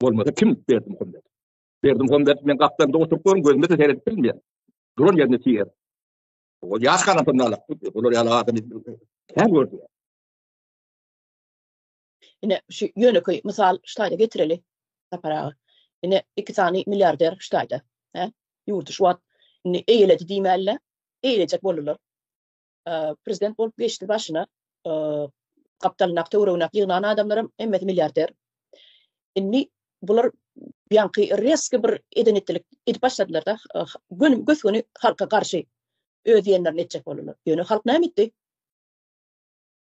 Bolmasa kim Berdimuhammet? Berdimuhammet men gapdalynda oturyp görüm gözüme de seredip bilmeýär. Duran ýerinde tiger. O ýaş garampynda alak. Olar ýaly adam kän gördi. Ine şu ýönekeý mysal ştaýda getireli. Sapar aga. Ine iki sany milliarder ştaýda. He? Ýurdy şu wagt indi eýledi diýmäli. Eýlejek boldular. Prezident bolup geçdi başyna. Gapdalyndaky töweregindäki ýygnan adamlaram hemmesi milliarder. Indi bular ýaňky reski bir eden etdilik edip başladylar-da. Göni gösgöni halka garşy öz diýenlerini etjek boldular. Ýöne halk näme etdi?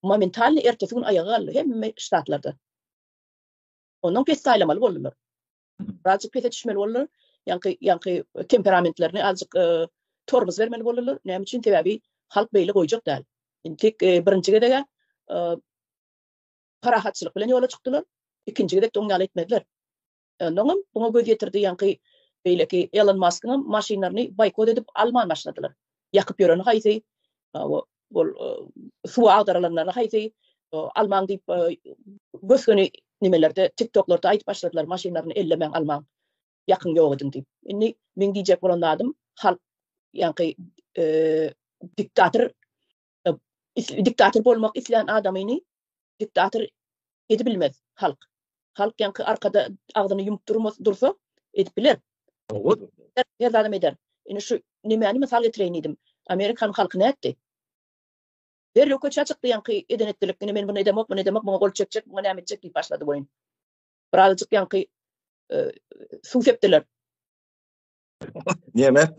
Momentalny ertesi gün aýaga galdy hemme ştatlarda. Ondan pessaýlamaly boldular. Azjyk pese düşmeli boldular. Ýaňky ýaňky temperamentlerini azjyk e, tormuz bermeli boldular. Näme üçin? Sebäbi halk beýle goýjak däl. Indi tek e, birinji gezege e, parahatçylyk bilen ýola çykdylar. Ikinji gezek de oň ýaly etmediler. Ondan hem buňa göz ýetirdi ýaňky beýleki Elon Maskyň hem maşynlaryny boýkot edip alman başladylar. Ýakyp ýöreni haýsy? ol suwa agdarylanlaryny haýsy almaň diýip gös-göni nimelerde tiktoklarda aýdyp başladylar maşynlaryny ellemäň almaň ýakyn ýok ediň diýip indi meň diýjek bolan zadym halk ýaňky diktator diktator bolmak islän adamyny diktator edip bilmez halk halk ýaňky arkada agzyny ýumup durmaz dursa edip biler her zadam eder indi şu nemäni mysal getireýin diýdim amerikan halky nätdi derrew köçä çykdy ýaňky eden etdilik indi men bunu edemok bunu edemok muňa gol çekjek muňa näme etjek diýip başlady boýun birazajyk ýaňky suw sepdiler Nemet